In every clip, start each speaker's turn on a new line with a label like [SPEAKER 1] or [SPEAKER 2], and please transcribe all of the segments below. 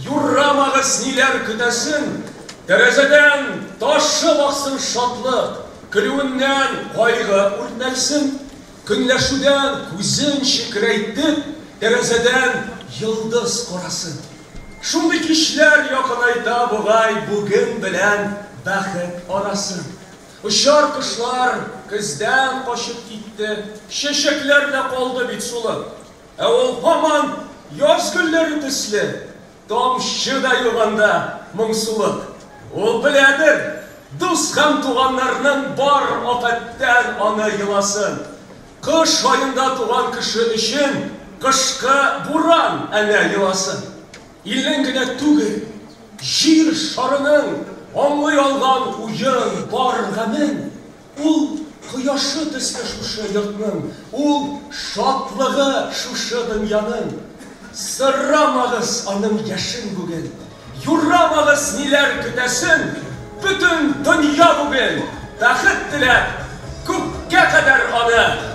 [SPEAKER 1] Юрамагыз, ниләр көтәсен, Тәрәзәдән ташып аксын шатлык, Көлүеннән кайгы үртәлсен. Көнләшүдән күзен чекрәйтеп, Тәрәзәдән йолдыз карасын. Шундый кичләр якынайта бугай Бүген белән бәхет арасын. Очар кошлар көздән качып китте, Чәчәкләр дә калды бит сулып. Ә ул һаман яз гөлләре төсле, тамчы да юк анда, моңсулык. Ул беләдер, дус һәм туганнарның бар афәттән аны еласын. Кыш аенда туган кеше өчен кышкы буран әнә еласын. Илнең генә түгел, җир шарының аңлый алган уен, бар гамен. Ул кояшы төсле шушы йортның, ул шатлыгы шушы дөньяның. Сорамагыз аның яшен бүген, юрамагыз ниләр көтәсен, бөтен дөнья бүген бәхет теләп күккә кадәр аны.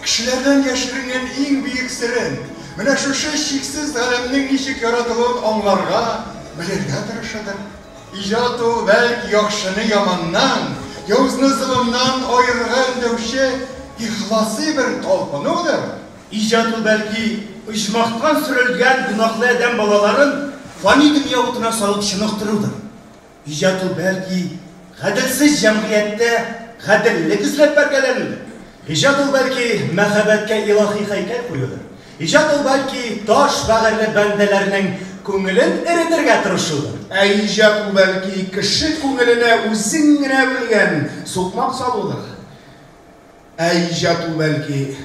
[SPEAKER 1] Кешеләрдән яшеренгән иң бөек серен, менә шушы чиксез галәмнең ничек яратылуын аңларга, белергә тырышыдыр. Иҗат ул, бәлки, яхшыны яманнан, явызны золымнан аерырга өндәүче ихласый бер талпынудыр. Иҗат ул, бәлки, оҗмахтан сөрелгән гөнаһлы адәм балаларын фани дөнья утына салып чыныктырудыр. Иҗат ул бәлки гаделсез җәмгыятьтә гаделлек эзләп бәргәләнүдер. Иҗат ул бәлки мәхәббәткә илаһи һәйкәл куюдыр. Иҗат ул бәлки таш бәгырьле бәндәләрнең күңелен эретергә тырышудыр. Ә иҗат ул бәлки кеше күңеленә үзең генә белгән сукмак салудыр. Ә иҗат ул бәлки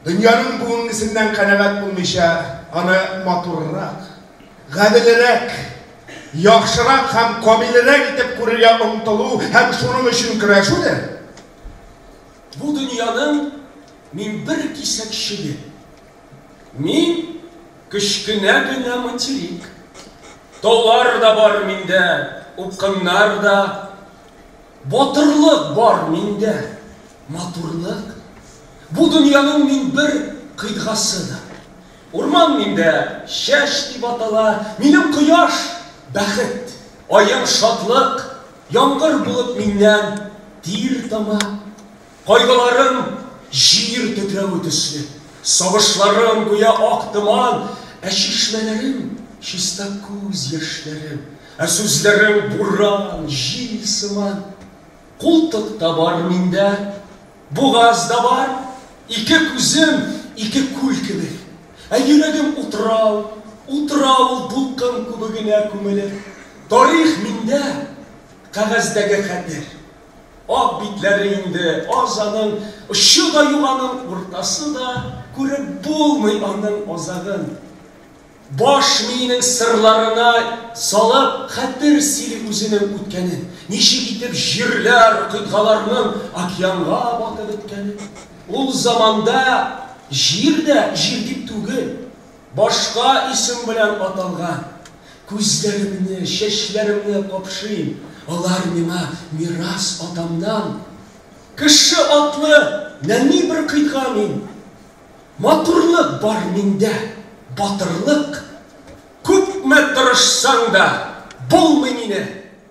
[SPEAKER 1] Дөньяның бүгенгесеннән канәгать булмыйча, аны матуррак, гаделрәк, яхшырак һәм камилрәк итеп күрергә омтылу һәм шуның өчен көрәшүдер. Бу дөньяның мин бер кисәкчеге. Мин, кечкенә генә материк. Таулар да бар миндә, упкыннар да. Батырлык бар миндә, матурлык. Бу дөньяның мин бер кыйтгасыдыр. Урман миндә чәч дип атала, минем кояш, бәхет, аем, шатлык, яңгыр булып миннән тир тама. Кайгыларым җир тетрәве төсле, сагышларым гүя ак томан, ә чишмәләрем чиста күз яшьләре, ә сүзләрем буран, җил сыман. Култык та бар миндә, бугаз да бар, ике күзем, ике күл кебек, ә йөрәгем утрау, утрау ул дулкын күбегенә күмелеп. Тарих миндә, кәгазьдәге хәтер, Ак битләре инде аз аның, очы да юк аның, уртасы да, күреп булмый аның азагын. Баш миенең сырларына салып, хәтер сөйли үзенең үткәнен, ничек итеп җирләр, кыйтгаларның океанга батып беткәнен. Ул заманда җир дә җир дип түгел. Башка исем белән аталган. Күзләремне, чәчләремне капшыйм, алар миңа мирас атамнан. Кеше атлы нәни бер кыйга мин. Матурлык бар миндә, батырлык. Күпме тырышсаң да, булмый мине.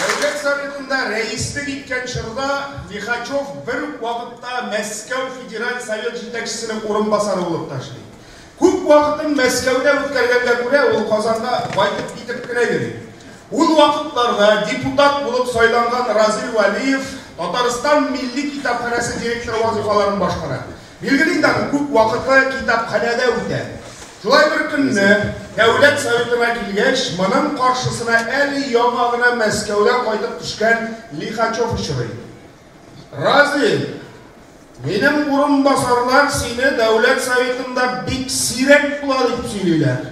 [SPEAKER 1] Дәүләт Советында рәислек иткән чорда Лихачев бер үк вакытта Мәскәү Федераль Совет җитәкчесенең урынбасары булып та эшли. Күп вакытын Мәскәүдә үткәргәнгә күрә, ул Казанда байтып-китеп кенә йөри. Ул вакытларда депутат булып сайланган Разил Вәлиев Татарстан милли китапханәсе директоры вазыйфаларын башкара. Билгеле инде аны, күп вакыты китапханәдә үтә. Шулай бер көнне, Дәүләт Советына килгәч, моның каршысына әле яңа гына Мәскәүдән кайтып төшкән Лихачев очрый. Разин, минем урынбасарлар сине Дәүләт Советында бик сирәк була дип сөйлиләр.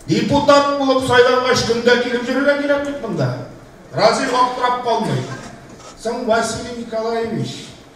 [SPEAKER 1] Депутат булып сайлангач, көндә килеп йөрергә кирәк бит монда. Разин аптырап калмый. Соң, Василий Николаевич,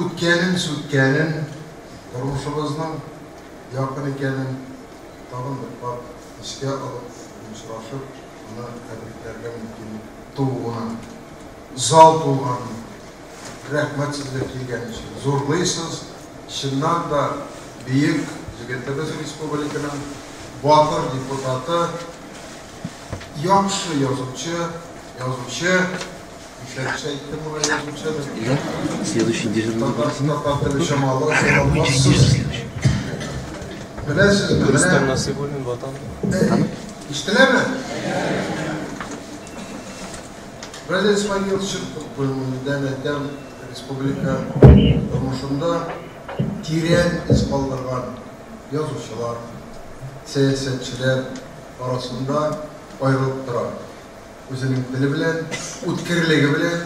[SPEAKER 1] Үткәнен, сүткәнен, тормышыбызның якын икәнен тагын бер кат искә алып, дустлашып, аны тәбрикләргә мөмкинлек тууына зал тулган. Рәхмәт сезгә килгән өчен. Зурлыйсыз, чыннан да бөек егетебез республиканың батыр депутаты, яхшы язучы, язучы, Следующий дежурный барысына. Беләсезме? Рөстәм Насыйбуллин ватан. Ишетеләме? Радио Исмаил чыктык күңелдән әйтәм, республика тормышында тирән из калдырган язучылар, сәясәтчеләр арасында аерылып тора. Үзенең теле белән, үткерлеге белән,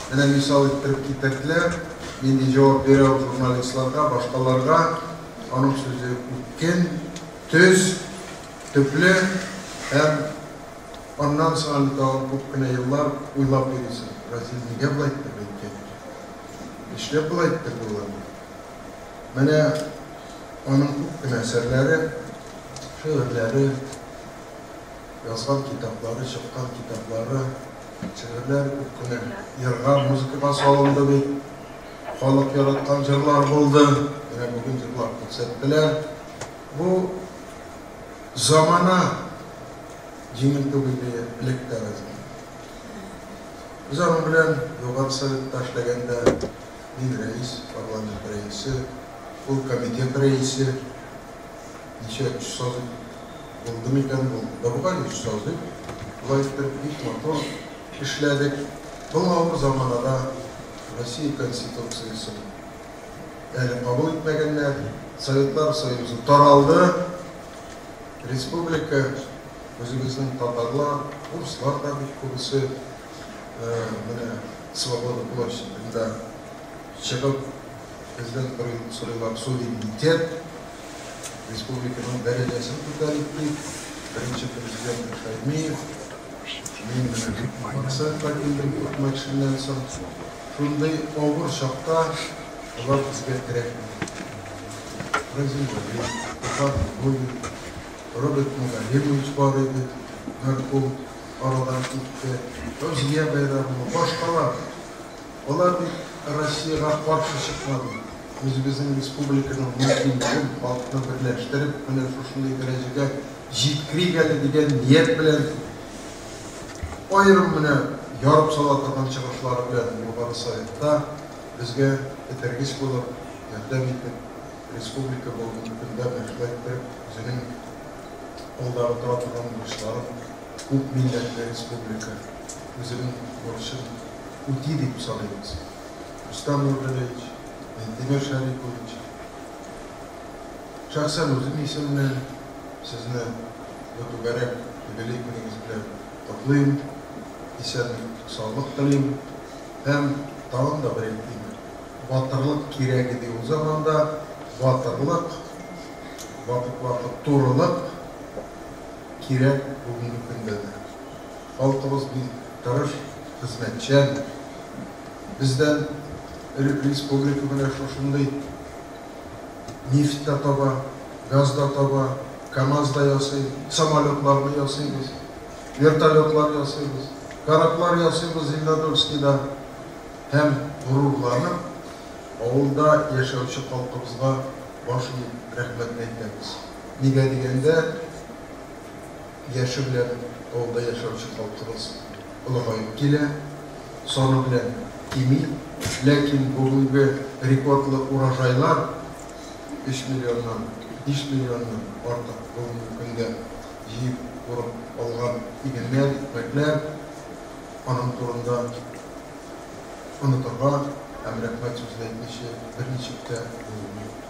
[SPEAKER 1] менә мисал иттереп китерделәр, нинди җавап бирә ул журналистларга, башкаларга. Аның сүзе үткен, төз, төпле һәм аннан соң әле тагын күп кенә еллар уйлап йөрисең, Разил нигә болай итеп әйткән икән? Нишләп болай иттерде ул аңа? Менә аның күп кенә әсәрләре, шигырьләре. язган китаплары, чыккан китаплары, шигырьләре күп кенә җырга, музыкага салынды бит. Халык яраткан җырлар булды. Менә бүген җырлап күрсәттеләр. Бу замана җиңел түгел иде элек тә безнең. Без аның белән Югары Советта эшләгәндә мин рәис, парламент рәисе, ул комитет рәисе. Ничә өч сазый булды микән бу? Борбай өч сазый. Болай итеп бик матур эшләдек. Был авыр заманада Россия Конституциясен әле кабул итмәгәннәр. Советлар Союзы таралды. Республика үзебезнең татарлар, урыслар да бит күбесе менә Свобода площадендә чыгып Президент Карим Сулейман суверенитет, республиканың дәрәҗәсен күтәрик дип, беренче президент Шәймиев, мин менә бит максатка килдем күпмәкшеннән соң, шундый авыр чакта болар безгә кирәкми. Разил Вәлиев, Илфар Нуруллин, Роберт Мөгаллимович бар иде, мәрхүм, арадан китте, Фәүзия Бәйрәмова, башкалар. Алар бит Россиягә каршы чыкмады. Үзебезнең республиканың мөмкинлеген, халыкны берләштереп, менә шушындый дәрәҗәгә җиткерик әле дигән ният белән аерым менә ярып сала торган чыгышлары белән Югары Советта безгә этәргеч булып, ярдәм итеп, республика бүгенге көндә менә шулай иттереп үзенең алдагы тора торган бурычларын күп милләтле республика, үзенең бурычын үти дип саныйбыз. Рустам Нургалиевич, Минтимер Шәрипович, шәхсән үзем исеменнән сезне бу түгәрәк юбилей көнегез белән котлыйм, исәнлек, саулык телим һәм тагын да бер әйтим, батырлык кирәк иде ул заманда, батырлык, вакыт-вакыт турылык кирәк бүгенге көндә дә. Халкыбыз бик тырыш, хезмәтчән. Бездән элек республика менә шушындый нефть та таба, газ да таба, камаз да ясый, самолетларны ясыйбыз, вертолетлар ясыйбыз, кораблар ясыйбыз, Зеленодольскида һәм горурланып авылда яшәүче халкыбызга баш иеп рәхмәтне әйтәбез. Нигә дигәндә. яше белән авылда яшәүче халкыбыз олыгаеп килә, саны белән кими. Ләкин бүгенге рекордлы урожайлар, өч миллионнан, биш миллионнан артык бүгенге көндә җыеп урып алган игеннәр, икмәкләр, аның турында онытырга һәм рәхмәт сүзен әйтмичә берничек тә булмый.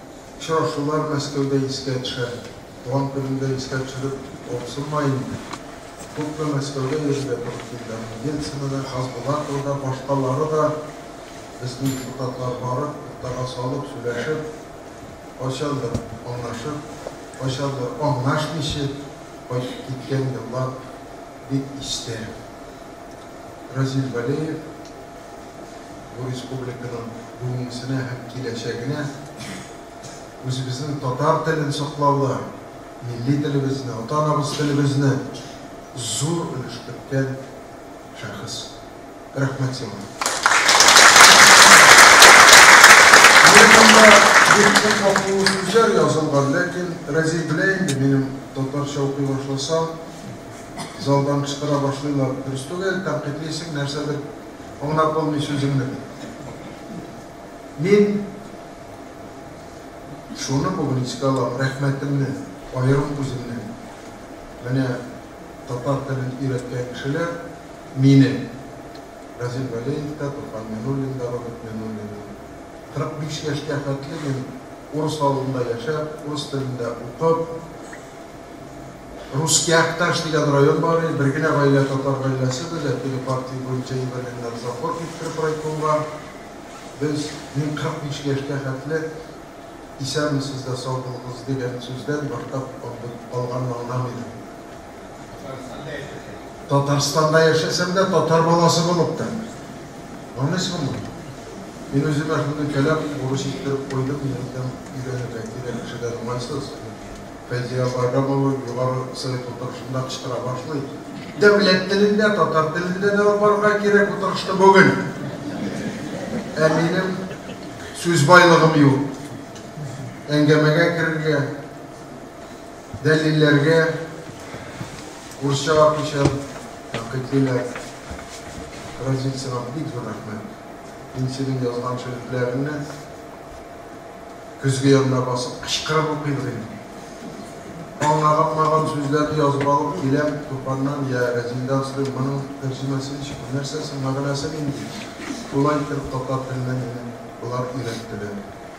[SPEAKER 1] Очрашулар Мәскәүдә искә төшә. Туган көнемдә искә төшереп калксынма инде. Күпме Мәскәүгә йөрергә туры килде, аны Ельцина да, Хасбулатова да, башкалары да, безнең депутатлар барып, уртага салып, сөйләшеп, кайчандыр аңлашып, кайчандыр аңлашмыйчы кайтып киткән еллар бик истә. Разил Вәлеев. бу республиканың бүгенгесенә һәм киләчәгенә үзебезнең татар телен саклауда, милли телебезне, ата-анабыз телебезне зур өлеш керткән шәхес. Рәхмәт сиңа! Минем монда бик күп вакыйлы сүзләр язылган, ләкин Разил белә инде, минем татарча укый башласам, залдан кычкыра башлыйлар, дөрес түгел, тәнкыйтьлисең, нәрсәдер аңлап булмый сүзеңне, дип. Мин шуны бүген искә алам, рәхмәтемне аерым үземнең. Менә татар телен өйрәткән кешеләр мине, Разил Вәлеев та, Туфан Минуллин да, Роберт Минуллин да. 45 яшькә хәтле мин урыс авылында яшәп, урыс телендә укып, Русский Акташ дигән район бар иде, бер генә гаилә татар гаиләсе без, әтине партия буенча җибәргәннәр завхоз иттереп райкомга. Без, мин 45 яшькә хәтле исәнмесез дә сау булыгыз дигән сүздән мактап алганны аңлам идем. Татарстанда яшәсәм дә, татар баласы булып та. Аңлыйсыңмы? Мин үземә шундый кәләм бурыч иттереп куйдым, минем өйрәнергә кирәк кешедән уңайсыз, дип, Фәйзия апайга бабай югары совет утырышында кычкыра башлый. Дәүләт телендә, татар телендә дәва барырга кирәк утырышны бүген. Ә минем сүз байлыгым юк. Әңгәмәгә керергә. Дәлилләргә урысча вакыйча тәнкыйть диләр. Разил, сиңа бик зур рәхмәт. Мин синең язган шигырьләреңне көзге янына басып кычкырып укыйм дим. Аңлаганмаган сүзләрне язып алып киләм, Туфаннан я Разилдән сорыйм, моның тәрҗемәсе ничек, нәрсә соң, мәгънәсе нинди? Шулай итеп татар теленә мине болар өйрәттеләр.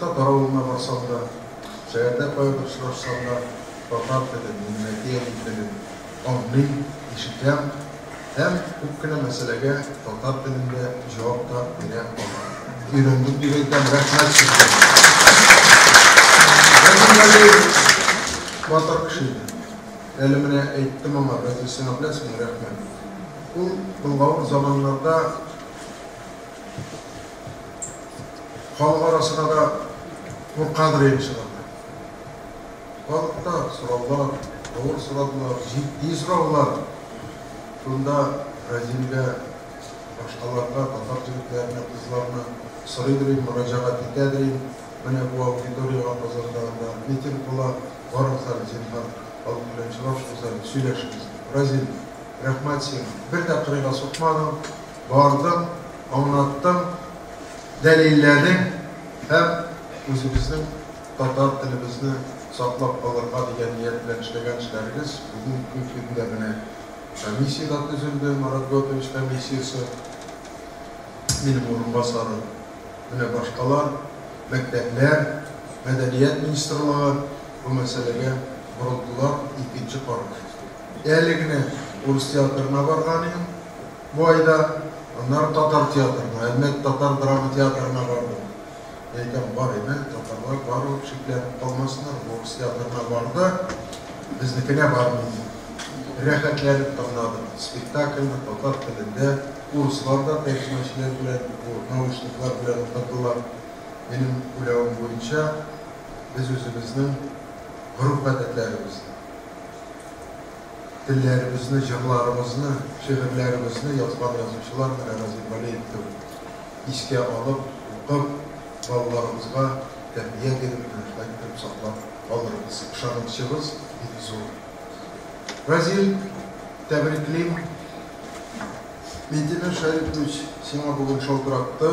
[SPEAKER 1] Татар авылына барсам да, шәһәрдә каян очрашсам да, татар телен, минем әти-әни телен аңлыйм, ишетәм һәм күп кенә мәсьәләгә татар телендә җавап та бирә алам. Өйрәндем дип әйтәм, рәхмәт сезгә! Рәхим Галиев батыр кеше иде. Әле менә әйттем аңа, разве сиңа беләсеңме рәхмәт? Ул былгавыр заманнарда Халык арасына да куркадыр инде чыгарга. Халык та сораулар, авыр сорадылар, җитди сораулар. Шунда Разимгә башкаларга, татар җегетләренә, кызларына сорыйдыр инде, мөрәҗәгать итәдер инде, менә бу аудиториягә Казанда анда митинг була, барыгыз әле, зинһар, халык белән очрашыгыз әле, сөйләшегез. Разим, рәхмәт сиңа, бер дә кырыйга сукмадың. бардым, аңлаттым, дәлилләдем һәм үзебезнең татар телебезне саклап калырга дигән ният белән эшләгән эшләрегез бүгенге көндә менә комиссия дә төзелде, Марат Готович комиссиясе, минем урынбасарым, менә башкалар, мәктәпләр, мәдәният министрлыгы бу мәсьәләгә борылдылар, икенче карар. Әле генә урыс театрына барган идем. бу айда. Аннары татар театрына, Әлмәт татар драма театрына бардык. Мин әйтәм, бар иде, татарлар бар ул, шикләнеп калмасыннар, урыс театрына барды, безнекенә бармый ди. Рәхәтләнеп тыңладык спектакльне татар телендә, урыслар да тәрҗемәчеләр белән, бу наушниклар белән утырдылар. Минем уйлавым буенча, без үзебезнең гореф-гадәтләребезне. Телләребезне, җырларыбызны, шигырьләребезне язган язучылар менә Разил Вәлиев кебек. Искә алып, укып, балаларыбызга тәрбия биреп, дөресрәк итеп саклап калырбыз. Ышанычыбыз бик зур. Разил, тәбриклим. Минтимер Шәрипович сиңа бүген шалтыратты.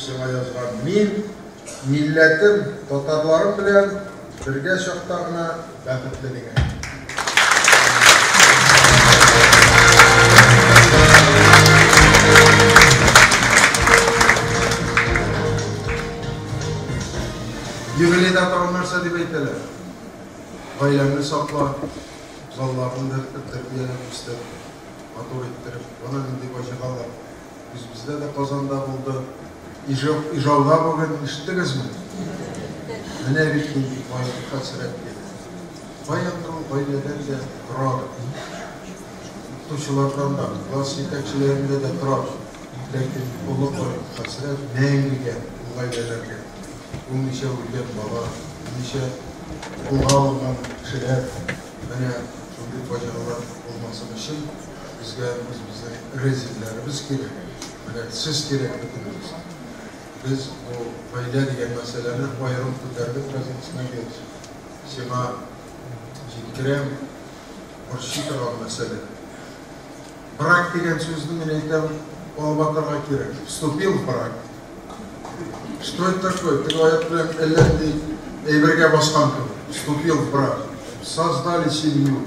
[SPEAKER 1] Сиңа язган мин, милләтем, татарларым белән бергә чакта гына бәхетле дигән. Юбилейда тагын нәрсә дип әйтәләр? Гаиләңне сакла, балаларны беркетеп, тәрбияләп үстер, матур иттереп. Ана нинди фаҗигалар. Үзебездә дә Казанда булды. Ижау, Ижауга бүген ишеттегезме? Менә бит нинди кайгы хәсрәт бит. Баягы гаиләдән дә торар. Укытучылардан да, класс җитәкчеләрендә дә торар. Ләкин олы кайгы хәсрәт мәңгегә ул гаиләләргә. Ул ничә үлгән бала, ничә кулга алынган кешеләр. Менә шундый фаҗигалар булмасын өчен Безгә үзебезнең резидләребез кирәк, менә сез кирәк бөтенебезгә. Без бу гаилә дигән мәсьәләне аерым күтәрдек газетасына гел сиңа җиткерәм, борчый торган мәсьәлә. Брак дигән сүзне мин әйтәм, алып атарга кирәк. Вступил в брак. Что это такое? Теге аяк белән әллә нинди әйбергә баскан кебек. Вступил в брак. Создали семью.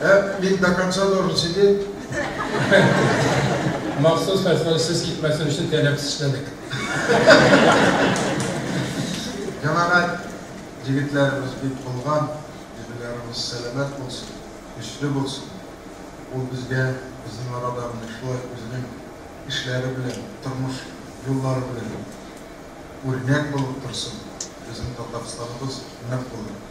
[SPEAKER 1] Ә мин до конца должен сидеть? Махсус хәзер сез китмәсен өчен тәләп эшләдек. Җәмәгать егетләребез бик булган, җирләребез сәламәт булсын, көчле булсын. Ул безгә безнең арада менә шулай үзенең эшләре белән, тормыш юллары белән үрнәк булып торсын. Безнең Татарстаныбыз нык булыр.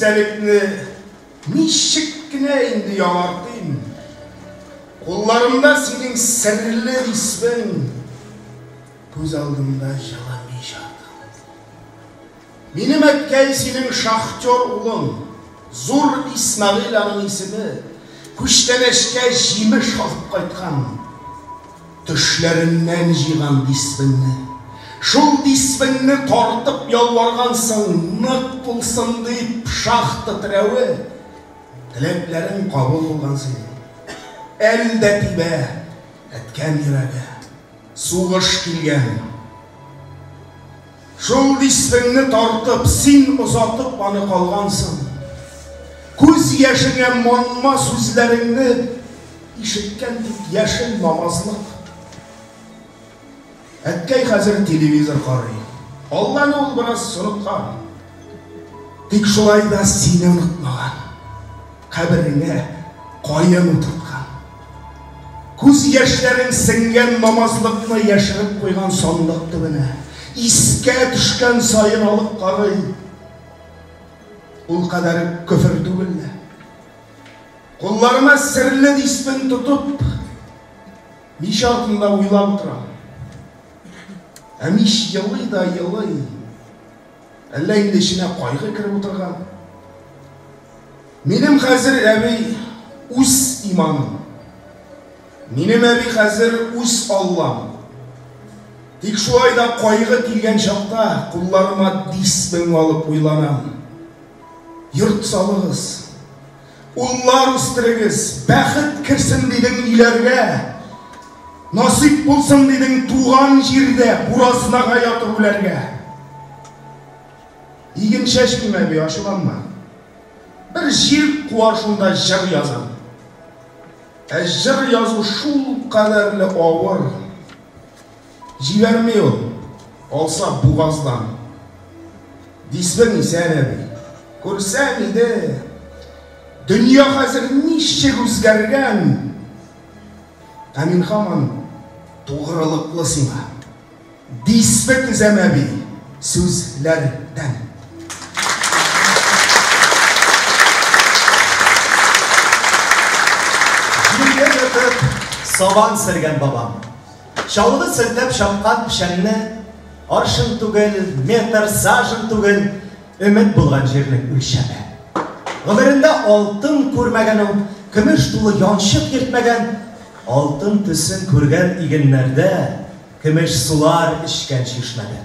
[SPEAKER 1] истәлекне ничек кенә инде яңартыйм Кулларымда синең серле исмең Күз алдымда җылы Минем әткәй синең шахтер улың, Зур Исмәгыйль аның исеме, Күчтәнәчкә җимеш алып кайткан, Төшләреннән җыйган дисбеңне. Шул дисбеңне тартып ялваргансың, Нык булсын дип, шахта терәве. Теләкләрең кабул булган синең. Әле дә тибә, әткәм, йөрәге. Сугыш килгән. Шул дистеңне тартып, син озатып аны калгансың. Күз яшеңә манма сүзләреңне ишеткән тик яшен намазлык. Әткәй хәзер телевизор карый. Алланы ул бераз оныткан. Тик шулай да сине онытмаган. Кабереңә каен утырткан. Күз яшьләрең сеңгән намазлыкны яшереп куйган сандык төбенә. Искә төшкән саен алып карый. Ул кадәр көфер түгел лә. Кулларыма серле дисмен тотып, мич артында уйлап утырам. Ә мич елый да елый. Әллә инде эченә кайгы кереп утырган? Минем хәзер әби үз иманым. Минем әби хәзер үз Аллам. Тик шулай да кайгы килгән чакта кулларыма дисмен алып уйланам. Йорт салыгыз. Уллар үстерегез, бәхет керсен дидең өйләргә. Насыйп булсын дидең туган җирдә буразнага ятып үләргә. Игенчә чим әби, ачуланма. Бер җир куар шунда җыр язам. Ә җыр язу шул кадәрле авыр. Җибәрми ул, алса бугаздан. Дисең исән әби, күрсәң иде. Дөнья хәзер ничек үзгәргән. Ә мин һаман тугрылыклы сиңа. Дисбе тезәм әби, сүзләрдән. Җиргә ятып, сабан сәргән бабам. Чаллы селтәп чапкан печәнне аршын түгел, метр, сажен түгел, өмет булган җирнең үлчәме. Гомерендә алтын күрмәгән ул, көмеш тулы янчык йөртмәгән, алтын төсен күргән игеннәрдә, көмеш сулар эчкән чишмәдә.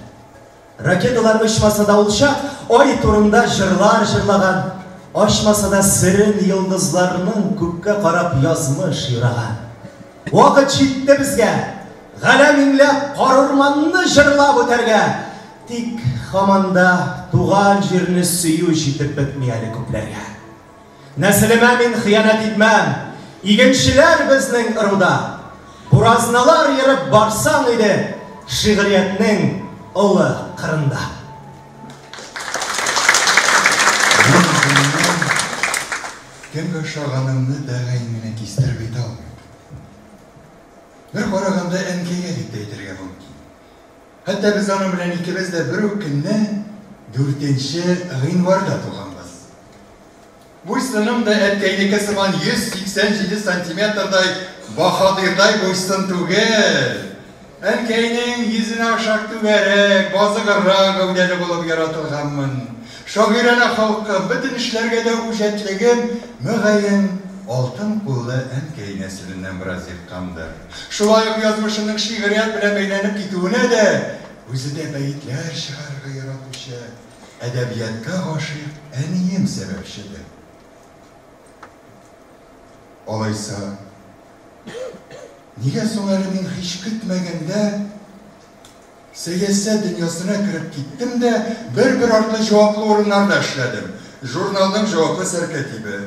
[SPEAKER 1] Ракеталар очмаса да ул чак Ай турында җырлар җырлаган, Ачмаса да серен йолдызларның, Күккә карап язмыш юраган. Вакыт җитте безгә, галәм иңләп, Карурманны җырлап үтәргә. Тик һаман да туган җирне сөю Җитеп бетми әле күпләргә. Нәселемә мин хыянәт итмәм, игенчеләр безнең ыруда. Буразналар ерып барсаң иде шигъриятнең олы кырында. Мин үземнең кемгә ошаганымны бәгай менә кистереп әйтә алмыйм. Бер караганда әнкәйгә дип тә әйтергә мөмкин. Хәтта без аның белән икебез дә бер үк көнне, дүртенче гыйнварда туганбыз. Буй-сыным да әткәйнеке сыман 187 сантиметрдай баһадирдай буй-сын түгел. Әнкәйнең йөзенә охшап түгәрәк, базыгыррак гәүдәле булып яратылганмын. Шагыйранә холкым, бөтен эшләргә дә үҗәтлегем, мөгаен, алтын куллы әнкәй нәселеннән бераз еккандыр. Шулай ук язмышының шигърият белән бәйләнеп китүенә дә үзе дә бәетләр чыгарырга яратучы, әдәбиятка гашыйк әнием сәбәпчедер. Алайса, нигә соң әле мин һич көтмәгәндә Сәясәт дөньясына кереп киттем дә, бер-бер артлы җаваплы урыннарда эшләдем. Журналның җаваплы сәркәтибе,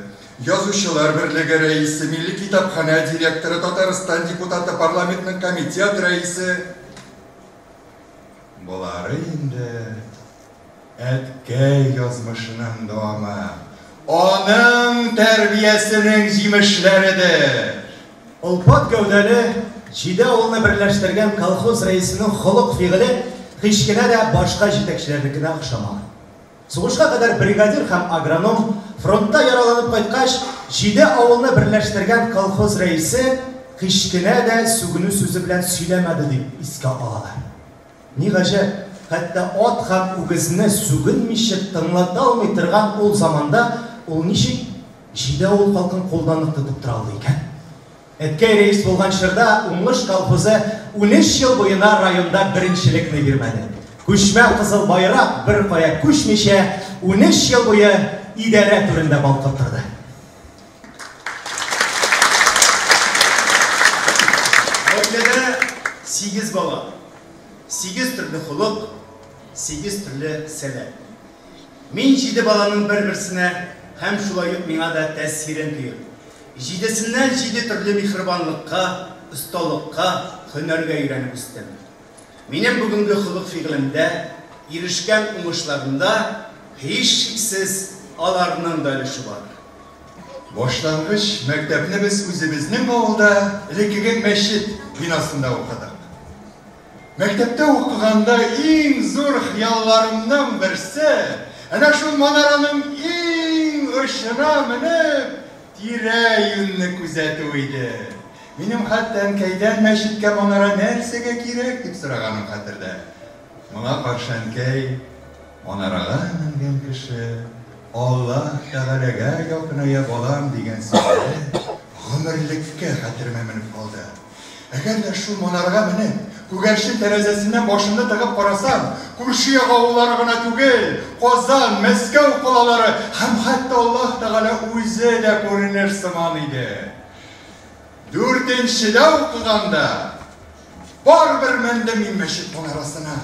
[SPEAKER 1] Язучылар берлеге рәисе, Милли китапханә директоры, Татарстан депутаты, парламентның комитет рәисе. Болары инде Әткәй язмышының дәвамы, аның тәрбиясенең җимешләредер. Олпат гәүдәле, җиде авылны берләштергән колхоз рәисенең холык-фигыле һич кенә дә башка җитәкчеләрнекенә охшамаган. Сугышка кадәр бригадир һәм агроном, фронтта яраланып кайткач, җиде авылны берләштергән колхоз рәисе һич кенә дә сүгенү сүзе белән сөйләмәде дип искә алалар. Ни гаҗәп, хәтта ат һәм үгезне сүгенмичә тыңлата алмый торган ул заманда ул ничек җиде авыл халкын кулда нык тотып тора алды икән? Әткәй рәис булган чорда Уңыш колхозы унөч ел буена районда беренчелекне бирмәде. Күчмә кызыл байрак беркая күчмичә унөч ел буе идарә түрендә балкып торды. Гаиләдә сигез бала, сигез төрле холык, сигез төрле сәләт. Мин җиде баланың бер-берсенә һәм шулай ук миңа да тәэсирен тоеп, җидесеннән җиде төрле михрибанлыкка, осталыкка, һөнәргә өйрәнеп үстем. Минем бүгенге холык-фигылемдә, ирешкән уңышларымда, һичшиксез, аларның да өлеше бар. Башлангыч мәктәпне без үзебезнең авылда элеккеге мәчет бинасында укыдык. Мәктәптә укыганда иң зур хыялларымның берсе, әнә шул манараның иң очына менеп, тирә-юньне күзәтү иде. Минем хәтта әнкәйдән мәчеткә манара нәрсәгә кирәк дип сораганым хәтердә. Моңа каршы әнкәй, Манарага менгән кеше Аллаһ Тәгаләгә якыная балам дигән сүзләре гомерлеккә хәтеремә менеп калды. Әгәр дә шул манарага менеп, күгәрчен тәрәзәсеннән башымны тыгып карасам, күрше як авыллары гына түгел, Казан, Мәскәү калалары һәм хәтта Аллаһ Тәгалә үзе дә күренер сыман иде. Дүртенчедә укыганда, Барыбер мендем мин мәчет манарасына.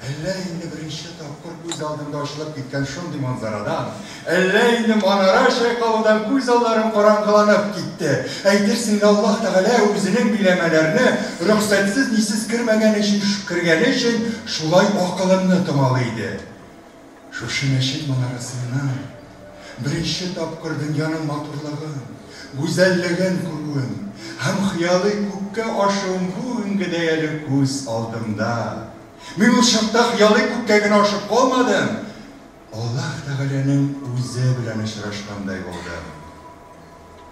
[SPEAKER 1] Әллә инде беренче тапкыр күз алдында ачылып киткән шундый манзарадан, әллә инде манара чайкалудан күз алларым караңгыланып китте. Әйтерсең лә Аллаһ Тәгалә үзенең биләмәләрне рөхсәтсез-нисез кермәгән өчен, кергәне өчен шулай акылымны томалый иде. Шушы мәчет манарасыннан беренче тапкыр дөньяның матурлыгын, гүзәллеген күрүем һәм хыялый күккә ашуым бүгенге дә әле күз алдымда. Мин ул чакта хыялый күккә генә ашып калмадым, Аллаһ Тәгаләнең үзе белән очрашкандай булдым.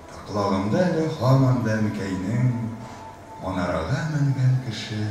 [SPEAKER 1] Ә колагымда әле һаман да Әнкәйнең, Манарага менгән кеше,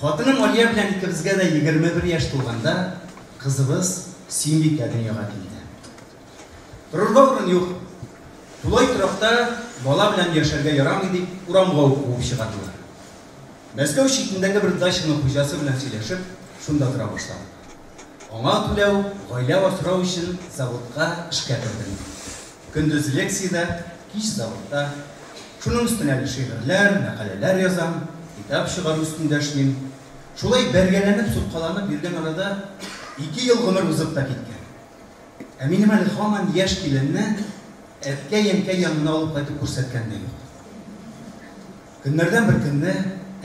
[SPEAKER 1] Хатыным Алия белән икебезгә дә егерме бер яшь тулганда, кызыбыз Сөембикә дөньяга килде. Торырга урын юк. Тулай торакта бала белән яшәргә ярамый дип, урамга ук куып чыгардылар. Мәскәү читендәге бер дачаның хуҗасы белән сөйләшеп, шунда тора башладык. Аңа түләү, гаилә асрау өчен заводка эшкә кердем. Көндез лекциядә, кич заводта. Шуның өстенә әле шигырьләр, мәкаләләр язам, китап чыгару өстендә эшлим. Шулай бәргәләнеп, суккаланып йөргән арада ике ел гомер узып та киткән. Ә минем әле һаман яшь киленне әткәй-әнкәй янына алып кайтып күрсәткән дә юк. Көннәрдән бер көнне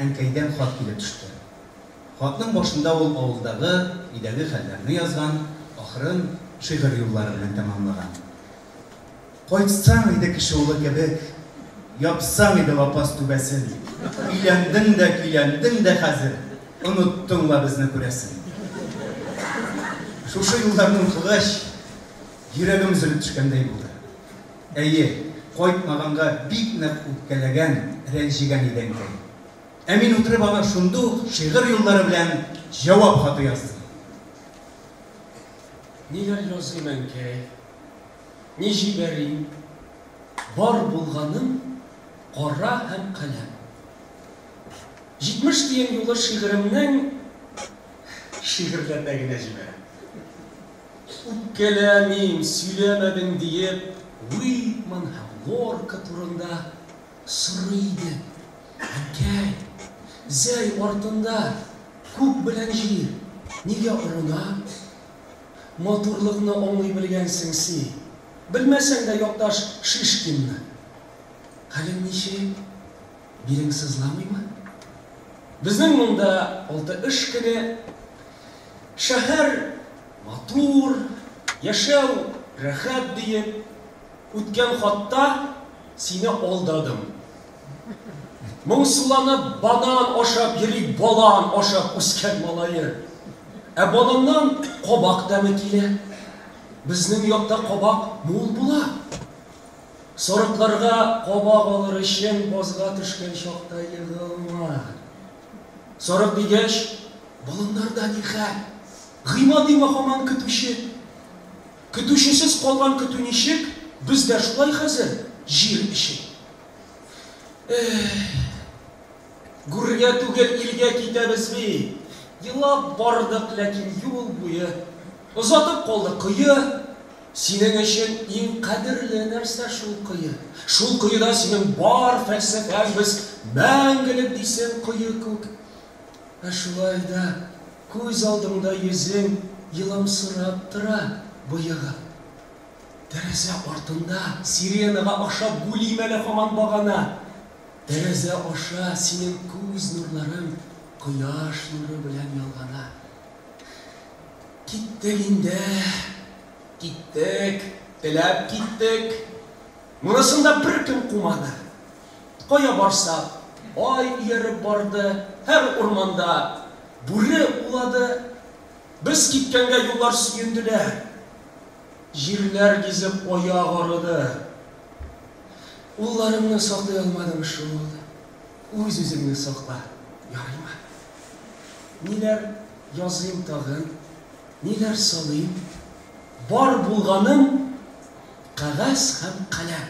[SPEAKER 1] әнкәйдән хат килеп төште. Хатның башында ул авылдагы, өйдәге хәлләрне язган, ахырын шигырь юллары белән тәмамлаган. Кайтсаң иде кеше улы кебек, япсаң иде лапас түбәсен, өйләндең дә, көйләндең дә хәзер, оныттың ла безне күрәсен. Шушы юлларны укыгач, йөрәгем өзелеп төшкәндәй булды. Әйе, кайтмаганга бик нык үпкәләгән, рәнҗегән иде әнкәй. Ә мин утырып аңа шунда ук шигырь юллары белән җавап хаты яздым. Ниләр языйм, әнкәй? Ни җибәрим? Бар булганым кара һәм каләм. 70 тиен юлы шигыремнең шигырьләрдә генә җибәрәм. Үпкәләмим, сөйләмәдең диеп, Уитман һәм Лорка турында Сорый иде, Әнкәй, зәй артында күк белән җир нигә орына? Матурлыкны аңлый белгәнсең си, белмәсәң дә якташ Шишкинны. Хәлең ничек? Билең сызламыймы? Безнең монда алты эш көне. Шәһәр матур, яшәү рәхәт, диеп, Үткән хатта сине алдадым. Моңсуланып банан ашап йөри балан ашап үскән малае. Ә баланнан кабак тәме килә. Безнең якта кабак мул була. Сорыкларга кабак алыр өчен базга төшкән чакта егылма. Сорык дигәч, баланнарда ни хәл? Гыйма димә һаман көтүче. Көтүчесез калган көтү ничек, без дә шулай хәзер, җир эчеп. Эһ. Гүргә түгел, илгә китәбез бит. Елап бардык, ләкин юл буе. Озатып калды кое. Синең өчен иң кадерле нәрсә шул кое. Шул коеда синең бар фәлсәфәң без мәңгелек дисең, кое күк. Ә шулай да күз алдыңда йөзең еламсырап тора, боегып. Тәрәзә артында сиренага аша гүлим әле һаман багана. Тәрәзә аша синең күз нурларың кояш нуры белән ялгана. Киттек инде, киттек, теләп киттек. Монысын да беркем кумады. Кая барсак, ай ияреп барды, һәр урманда бүре улады. Без киткәнгә юллар сөенделәр, җирләр гизеп аяк арыды. Улларымны саклый алмадым шул, үз-үзеңне сакла, ярыймы? Ниләр языйм тагын, ниләр салыйм? Бар булганым, кәгазь һәм каләм.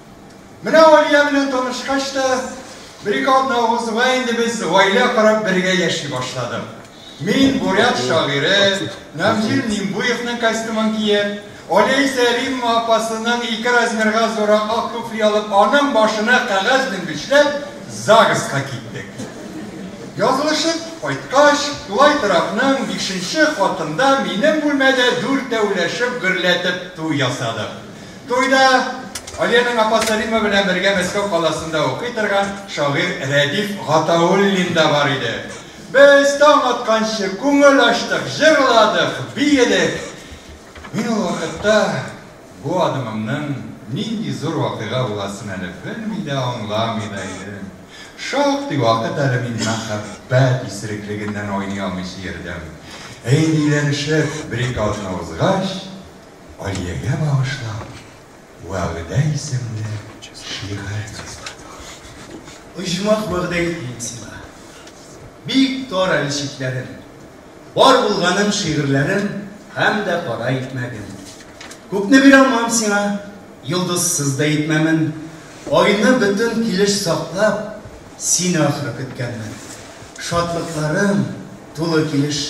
[SPEAKER 1] Менә Алия белән танышкач та, бер-ике атна узуга инде без гаилә корып бергә яши башладык. Мин бурят шагыйре Намзил Нимбуевның костюмын киеп, Алия исә Римма апасының ике размерга зуррак ак туфли алып, аның башына кәгазь менгечләп, ЗАГСка киттек. Язылышып кайткач, тулай торакның бишенче катында минем бүлмәдә дүртәүләшеп гөрләтеп туй ясадык. Туйда Алиянең апасы Римма белән бергә Мәскәү каласында укый торган шагыйрь Рәдиф Гатауллин да бар иде. Без таң атканчы күңел ачтык, җырладык, биедек. Мин ул вакытта бу адымымның нинди зур вакыйга буласын әле белми дә, аңламый да идем. Шактый вакыт әле мин мәхәббәт исереклегеннән айный алмыйча йөрдем. Ә инде өйләнешеп, бер-ике атна узгач, Алиягә багышлап Вәгъдә исемле шигырь язган. Оҗмах вәгъдә итмим сиңа. Бик тар әле чикләрем. Бар булганым шигырьләрем Һәм дә кара икмәгем. Күпне бирә алмам сиңа, Йолдызсыз да итмәмен. Айны бөтен килеш саклап, Сине ахры көткәнмен. Шатлыкларым тулы килеш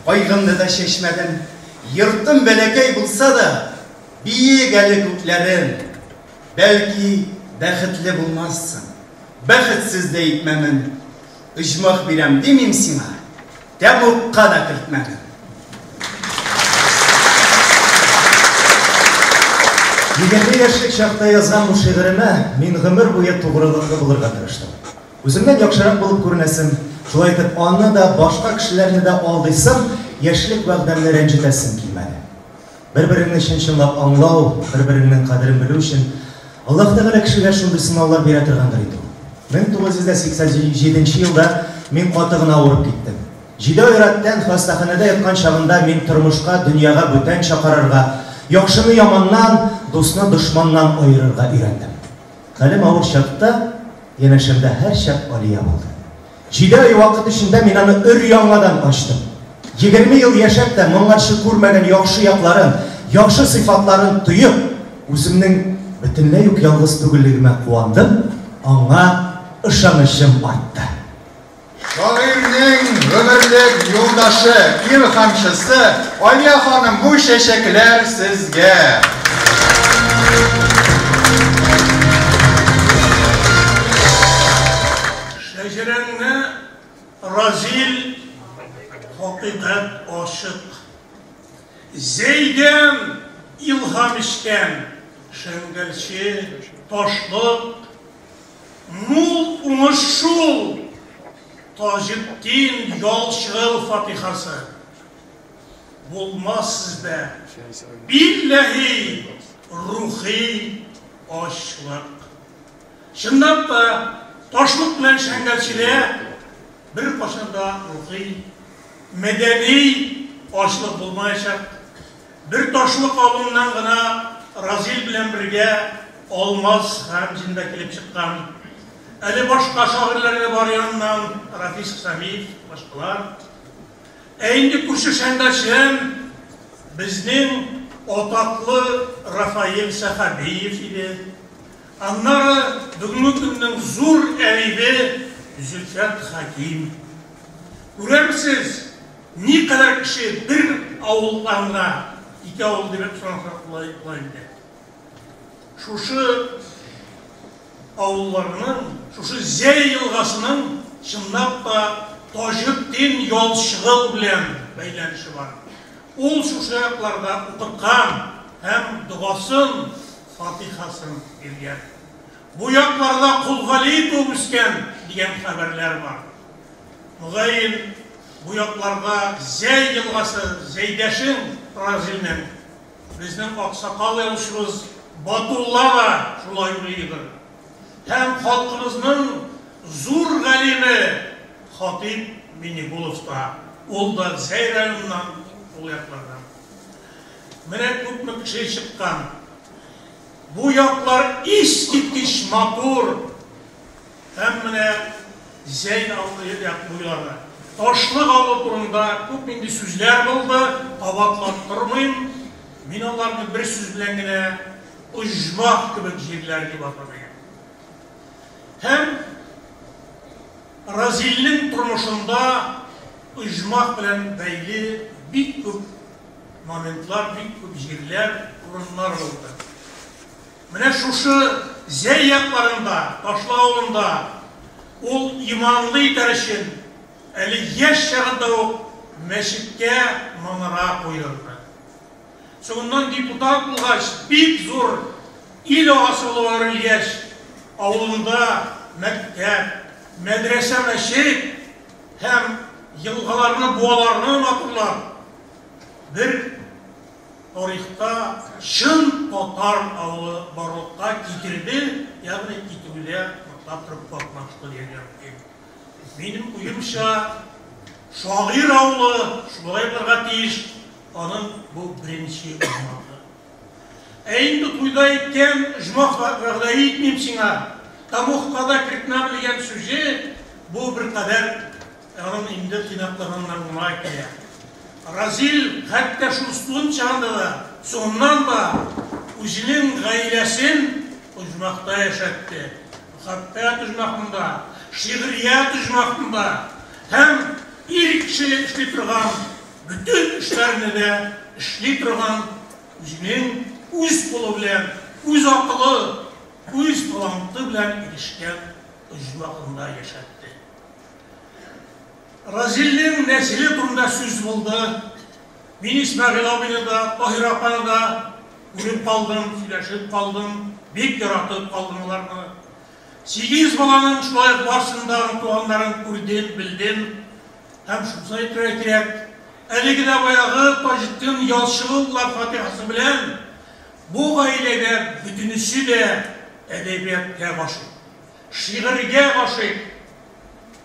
[SPEAKER 1] Кайгымны да чәчмәдем. Йортым бәләкәй булса да, биек әле күкләрем. Бәлки, бәхетле булмассың. Бәхетсез дә итмәмен. Оҗмах бирәм димим сиңа, тәмугка да кертмәмен. Егерме яшьлек чакта язган бу шигыремә мин гомер буе тугрылыклы булырга тырыштым. Үземнән яхшырак булып күренәсем, шулай итеп, аны да, башка кешеләрне дә алдыйсым, яшьлек вәгъдәмне рәнҗетәсем килмәде. Бер-береңне чын-чынлап аңлау, бер-береңнең кадерен белү өчен Аллаһ Тәгалә кешегә шундый сынаулар бирә торгандыр инде ул. 1987 елда мин каты гына авырып киттем. Җиде ай рәттән хастаханәдә яткан чагында мин тормышка, дөньяга бүтәнчә карарга, яхшыны яманнан, дусны дошманнан аерырга өйрәндем. Хәлем авыр чакта, янәшәмдә һәрчак Алия булды. Җиде ай вакыт эчендә мин аны өр-яңадан ачтым. Егерме ел яшәп тә, моңарчы күрмәгән яхшы якларын, яхшы сыйфатларын тоеп, үземнең бөтенләй үк ялгыз түгеллегемә куандым, аңа ышанычым артты. Шагыйрьнең гомерлек юлдашы, илһамчысы Алия ханым, бу чәчәкләр сезгә! Шәҗәрәңне Разил хакыйкать ачык. Зәйдән илһам эчкән Шәңгәлче, Ташлык, Мул уңыш шул! Таҗетдин Ялчырыл фатихасы! Булмас сездә, билләһи, рухи ачлык! Чынлап та, ачлык белән Шәңгәлчедә беркайчан да рухи, мәдәни ачлык булмаячак. Бер ташлык авылыннан гына Разил белән бергә Алмаз Гамзин да килеп чыккан. Әле башка шагыйрьләр дә бар яныннан, Рафис Хәмид, башкалар. Ә инде күрше Шәңгәчем безнең атаклы Рафаэль Сәхәбиев иде. Аннары бүгенге көннең зур әдибе Зөлфәт Хәким. Күрәмсез, Никадәр кеше бер авылдан гына китә ул дип сорасак була була инде. Шушы авылларның, шушы Зәй елгасының чынлап та Таҗетдин Ялчыгыл белән бәйләнеше бар. Ул шушы якларда укыткан һәм догасын, фатихасын биргән. Бу якларда Колгали туып үскән дигән хәбәрләр бар. Мөгаен, бу якларга Зәй елгасы, Зәйдәшең Разилнең, безнең аксакал язучыбыз Батулла да шулай уйлыйдыр. Һәм халкыбызның зур галиме Хатыйп Минегулов та, ул да Зәй районыннан, ул яклардан. Менә күпме кеше чыккан. Бу яклар искиткеч матур. Һәм менә Зәйн абый як буйлары. Ташлык авылы турында күп нинди сүзләр булды, кабатлап тормыйм. Мин аларны бер сүз белән генә оҗмах кебек җирләр дип атар идем. Һәм Разилнең тормышында оҗмах белән бәйле бик күп моментлар, бик күп җирләр, урыннар булды. Менә шушы Зәй якларында, Ташлы авылында ул иманлы итәр өчен әле яшь чагында ук мәчеткә манара куйдырды. Соңыннан депутат булгач, бик зур ил агасы булып әверелгәч, авылында мәктәп, мәдрәсә, мәчет һәм елгаларны, буаларны матурлап, бер тарихта чын татар авылы барлыкка китерде, ягъни китүдә ныклап торып катнашты дияргә мөмкин. Минем уемча, шагыйрь авылы шулай булырга тиеш, аның бу беренче узматы. Ә инде туйда әйткән, оҗмах вәгъдә итмим сиңа, Тамугка да кертмәм дигән сүзе, бу беркадәр Эрон инде тыйнаклыгыннан май килә. Разил хәтта шул студент чагында да, соңыннан да үзенең гаиләсен оҗмахта яшәтте. Мөхәббәт оҗмахында, шигърият оҗмахында һәм ир кеше эшли торган бөтен эшләрне дә эшли торган үзенең үз кулы белән, үз акылы, үз таланты белән ирешкән оҗмахында яшәтте. Разилнең нәселе турында сүз булды. Мин Исмәгыйль абыйны да, Таһир апаны да күреп калдым, сөйләшеп калдым, бик яратып калдым аларны. Сигез баланың шулай ук барсын да туганнарын күрдем, белдем. Һәм шуны әйтергә кирәк, әлеге дә баягы Таҗетдин Ялчыгуллар фатихасы белән бу гаиләгә бөтенесе дә әдәбияткә гашыйк. Шигырьгә гашыйк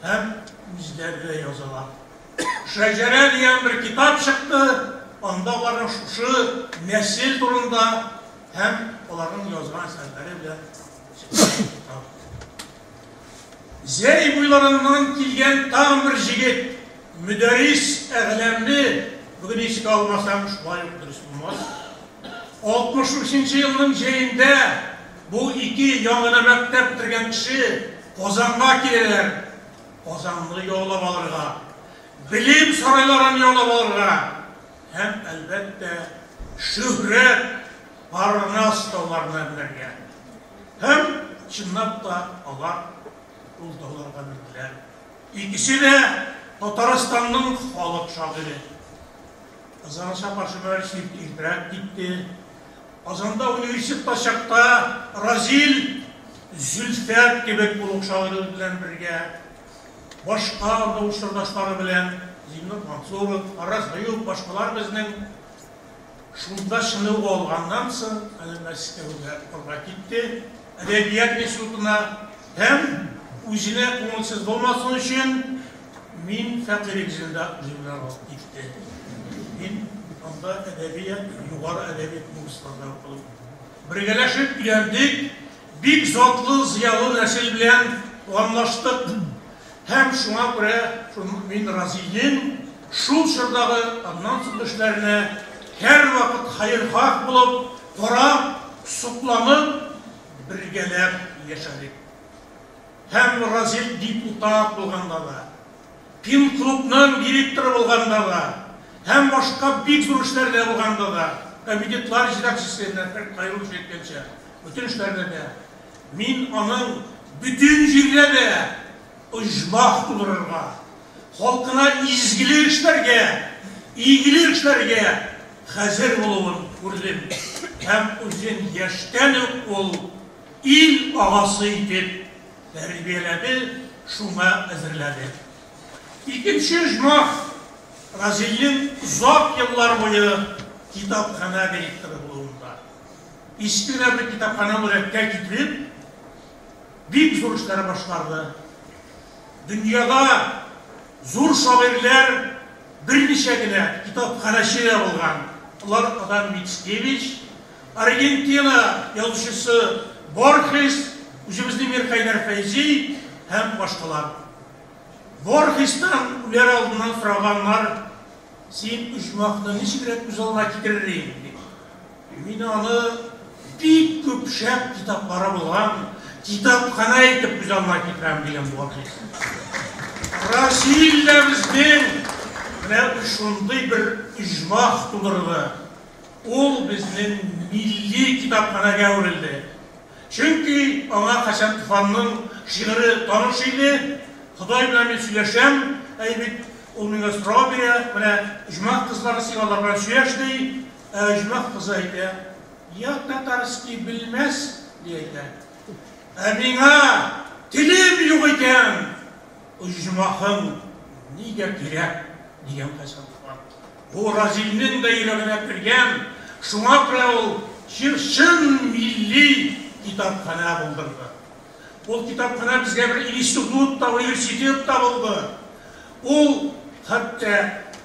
[SPEAKER 1] һәм үзләре дә язалар. Шәҗәрә дигән бер китап чыкты, анда аларның шушы нәсел турында һәм аларның язган әсәрләре белән Зәй буйларыннан килгән тагын бер җегет, Мөдәрис Әгъләмле, бүген искә алмасам, шулай ук дөрес булмас. 63 нче елның җәендә Бу ике яңына мәктәп бетергән кеше Казанга киләләр, Казанны яулап алырга, белем сарайларын яулап алырга һәм, әлбәттә, шөһрәт, парнас тауларына менәргә. Һәм, чынлап та, алар ул тауларга менделәр. Икесе дә Татарстанның халык шагыйре. Ызаны чапар-чөпәр чирт иртәрәк китте. Казанда университетта чакта Разил Зөлфәт кебек олуг шагыйрьләр белән бергә, башка анда учрдашлары белән, Зиннур Мансуров, Фараз Гаюп, башкалар безнең шунда чыныгу алганнан соң әле Мәскәүгә укырга китте, әдәбият институтына һәм үзенә күңелсез булмасын өчен Мин фәкыйрек җилдә гимнарал итте. Мин анда әдәбият, югары әдәби курсларда укыдым. Бергәләшеп өйрәндек, бик затлы, зыялы нәсел белән туганлаштык. Һәм шуңа күрә мин Разинең шул чордагы, аннан соңгы эшләренә һәрвакыт хәерхаһ булып, карап, сокланып, бергәләп яшәдек. һәм Разил депутат булганда да, Пен-клубның директоры булганда да һәм башка бик зур эшләрдә булганда да, комитетлар җитәкчесе Нәфыйкъ Хәйруллович әйткәнчә, бөтен эшләрдә дә мин аның бөтен җирдә дә оҗмах тудырырга, халкына изгелек эшләргә, игелек эшләргә хәзер булуын күрдем һәм үзен яшьтән үк ул Ил агасы итеп тәрбияләде, шуңа әзерләде. Икенче оҗмах, Разилнең озак еллар буе китапханә директоры булуында. Иске генә бер китапханә үрәккә китереп, бик зур эшләр башкарды. Дөньяда зур шагыйрьләр берничә генә китапханәче дә булган. Алар Адам Мицкевич, Аргентина язучысы Борхес, үзебезнең Мирхәйдәр Фәйзи һәм башкалар. Борхестан үләр алдыннан сораганнар, Син оҗмахны ничегрәк күз алдына китерер идең? дип. Мин аны бик күп шәп китаплары булган китапханә итеп күз алдына китерәм, дигән Борхес. Бразилиядә безнең менә шундый бер оҗмах тудырды. Ул безнең милли китапханәгә әверелде. Чөнки аңа Хәсән Туфанның шигыре таныш иде, Ходай белән мин сөйләшәм, әй бит, ул миңа сорау бирә, менә оҗмах кызлары син алар белән сөйләш, ди. Ә оҗмах кызы әйтә, Я татарский белмәс, ди әйтә. Ә миңа телем юк икән, оҗмахың нигә кирәк, дигән Хәсән Туфан. Бу Разиннең дә йөрәгенә кергән, шуңа күрә ул чын милли китапханә булдырды. Ул китапханә безгә бер институт та, университет та булды. Ул хәтта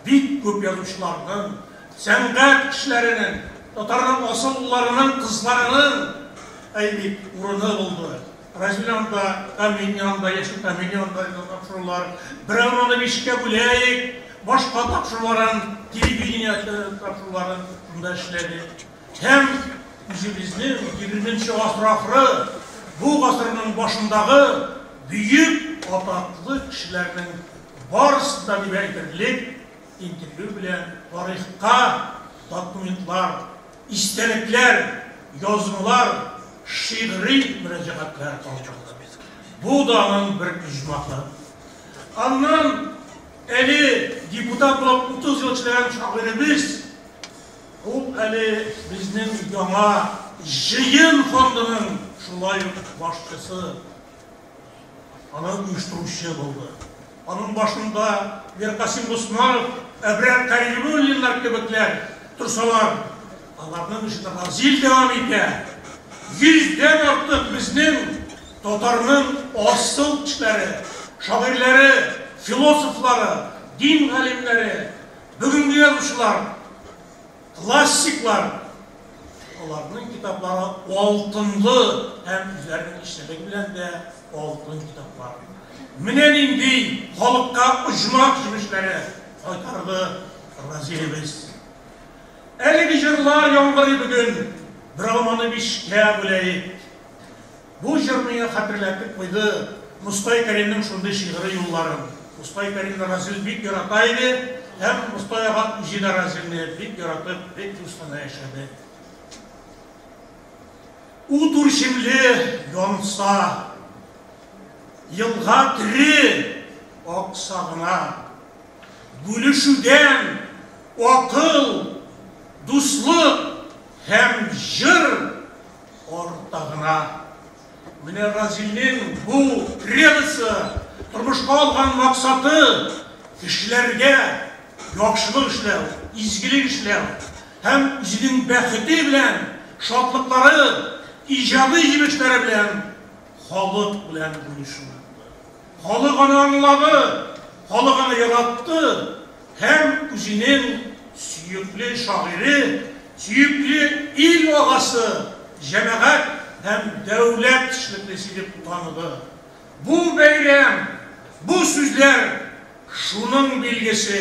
[SPEAKER 1] бик күп язучыларның, сәнгать кешеләренең, татарның асыллыларының кызларының, әйбик, урыны булды. Разил янында, Камил янында, яшел Камил янында да тапшырулар. Берәүне аны бишкә бүләйек, башка тапшыруларын, телевидение тапшыруларын шунда эшләдек. Һәм үзебезнең 20 нче гасыр ахыры, бу гасырның башындагы бөек атаклы кешеләрнең барысы да дип әйтерлек интервью белән тарихка документлар, истәлекләр, язмалар, шигъри мөрәҗәгатьләр калдырды. Бу да аның бер оҗмахы. Аннан әле депутат булып 30 ел эшләгән шагыйребез ул әле безнең яңа җыен фондының шулай ук башчысы. Аны оештыручы булды. Аның башында Миркасыйм Госманов, Әбрар Кәримуллиннар кебекләр торсалар, аларның эшен Разил дәвам итә. Йөздән артык безнең татарның асыл кешеләре, шагыйрьләре, философлары, дин галимнәре, бүгенге язучылар Классиклар, аларның китаплары алтынлы һәм үзләренең эчтәлеге белән дә алтын китаплар. Менә нинди халыкка оҗмах җимешләре кайтарды Разилебез. Әлеге җырлар яңгырый бүген, берәү моны бишкә бүләйек. Бу җыр миңа хәтерләтеп куйды Мостай Кәримнең шундый шигъри юлларын. Мостай Кәримне Разил бик ярата иде һәм Мостай ага үзе дә Разилне бик яратып, бик дус кына яшәде. Ут үрчемле янса, елга тере акса гына, бүлешүдән акыл, дуслык һәм җыр Артта гына, менә Разилнең бу кредосы, тормышка алган максаты, кешеләргә яхшылык эшләү, изгелек эшләү һәм үзенең бәхете белән, шатлыклары, иҗади җимешләре белән халык белән бүлешү. Халык аны аңлады, халык аны яратты һәм үзенең сөекле шагыйре, сөекле ил агасы, җәмәгать һәм дәүләт эшлеклесе дип таныды. Бу бәйрәм, бу сүзләр шуның билгесе.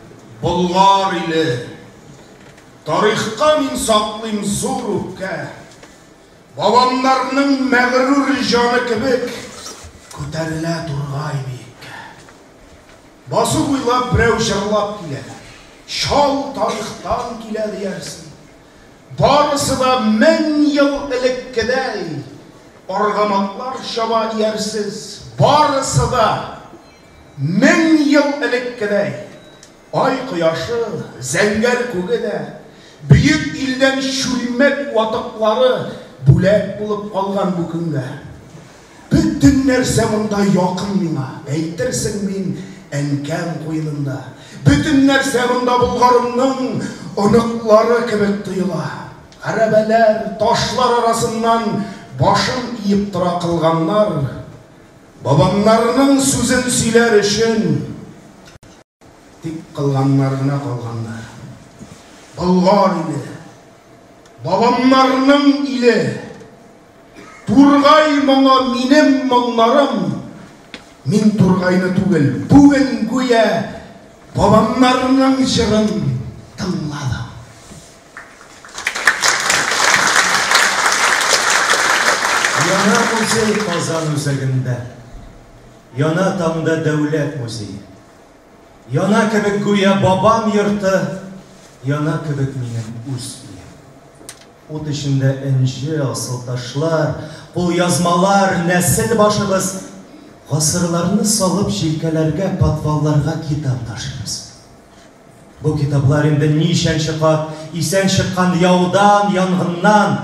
[SPEAKER 1] Болгар иле, тарихка мин саклыйм зур үпкә. Бабамнарның мәгърур җаны кебек күтәрелә тургай биеккә. Басу буйлап берәү җырлап килә, чал тарихтан килә диярсең. Барысы да мең ел элеккедәй, аргаматлар чаба диярсез. Барысы да Мең ел элеккедәй, ай кояшы, зәңгәр күге дә, бөек илдән чүлмәк ватыклары бүләк булып калган бу көнгә. Бөтен нәрсә монда якын миңа, әйтерсең мин әнкәм куенында. Бөтен нәрсә монда Болгарымның оныклары кебек тоела. Гәрәбәләр, ташлар арасыннан башын иеп тора кылганнар. Бабамнарының сүзен сөйләр өчен тик кылганнар гына калганнар. Болгар иле, бабамнарның иле, Тургай моңы минем моңнарым, мин Тургайны түгел, бүген гүя бабамнарның җырын тыңладым. Яна музей Казан үзәгендә. Яна таңда дәүләт музее. Яна кебек гүя бабам йорты, яна кебек минем үз өем. Ут эчендә энҗе, асыл ташлар, кулъязмалар, нәсел башыбыз. Гасырларны салып җилкәләргә, подвалларга китап ташыбыз. Бу китаплар инде ничәнче кат исән чыккан яудан, янгыннан,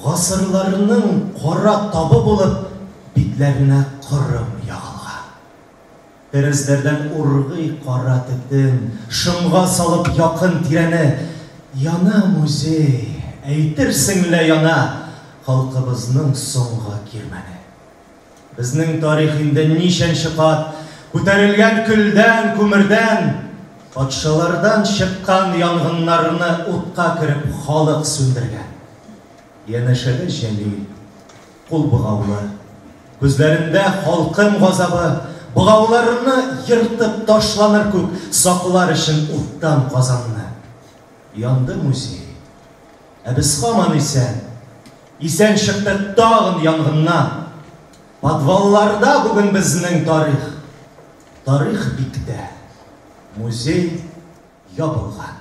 [SPEAKER 1] гасырларның кара табы булып битләренә кырым ягылган. Тәрәзләрдән ургый кара төтен, шомга салып якын тирәне. Яна музей, әйтерсең лә яна халкыбызның соңгы кирмәне. Безнең тарих инде ничәнче кат Күтәрелгән көлдән, күмердән, Патшалардан чыккан янгыннарны Утка кереп халык сүндергән. Янәшәдә Җәлил, кул богаулы, Күзләрендә халкым газабы, Богауларны ертып ташланыр күк, Саклар өчен уттан Казанны. Янды музей. Ә без хаман исән. Исән чыкты тагын янгыннан. Подвалларда бүген безнең тарих. Тарих биктә. Музей ябылган.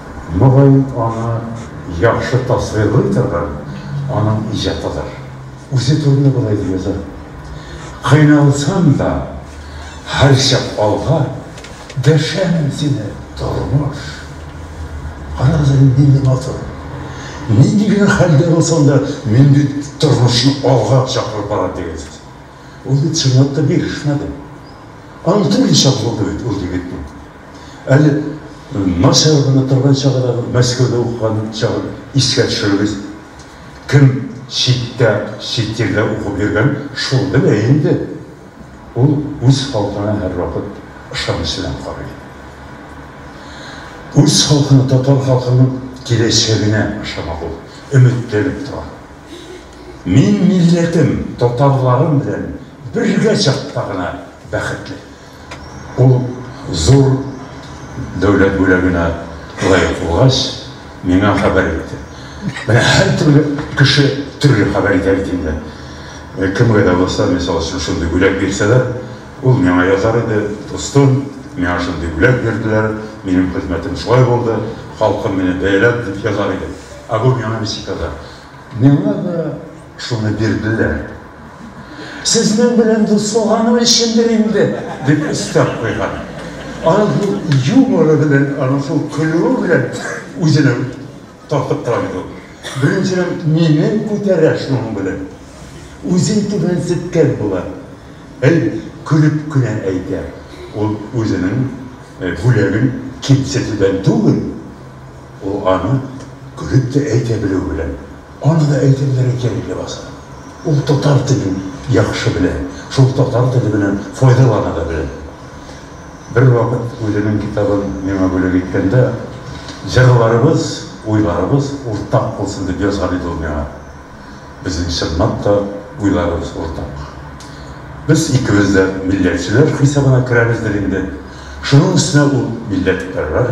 [SPEAKER 1] Мөгаен, аны яхшы тасвирлый торган аның иҗатыдыр. Үзе турында болай дип яза, Кыйналсам да, һәрчак алга, Дәшәмен сине, тормыш! Карагыз әле, нинди матур! Нинди генә хәлдә булсаң да, мин бит тормышны алга чакырып барам, дигән сүз. Ул бит чынлап та бирешмәде. Аның төрле чагы булды бит, ул егетнең. Әле начар гына торган чагыдагы Мәскәүдә укыган чагын искә төшерегез. Кем читтә, чит җирдә укып йөргән, шул белә инде. Ул үз халкына һәрвакыт ышаныч белән карый. Үз халкына, татар халкының киләчәгенә ышана ул, өметләнеп тора. Мин милләтем, татарларым белән бергә чакта гына бәхетле. Ул зур дәүләт бүләгенә лаек булгач, миңа хәбәр итте. Менә һәртөрле кеше төрле хәбәр итә бит инде. Кемгә дә булса, мисал өчен, шундый бүләк бирсәләр, ул миңа язар иде, Дустым, миңа шундый бүләк бирделәр, минем хезмәтем шулай булды, халкым мине бәяләп, дип язар иде. Ә бу миңа ничек яза? Миңа да Шуны бирделәр. Сезнең белән дуслаганым өчендер инде, дип өстәп куйган. Аның шул юморы белән, аның шул көлүе белән үзенә тартып тора бит ул. Беренчедән, мине күтәрә шуның белән. Үзен түбәнсеткән була. Әй, көлеп кенә әйтә. Ул үзенең бүләген кимсетүдән түгел, ул аны көлеп тә әйтә белүе белән. Аны да әйтемнәре кәгыль ләбаса. Ул татар телен яхшы белә, шул татар теле белән файдалана да белә. Бервакыт үзенең китабын миңа бүләк иткәндә, Җырларыбыз, уйларыбыз уртак булсын, дип язган иде ул миңа. Безнең чынлап та уйларыбыз уртак. Без икебез дә милләтчеләр хисабына керәбездер инде. Шуның өстенә ул милләтпәрвәр.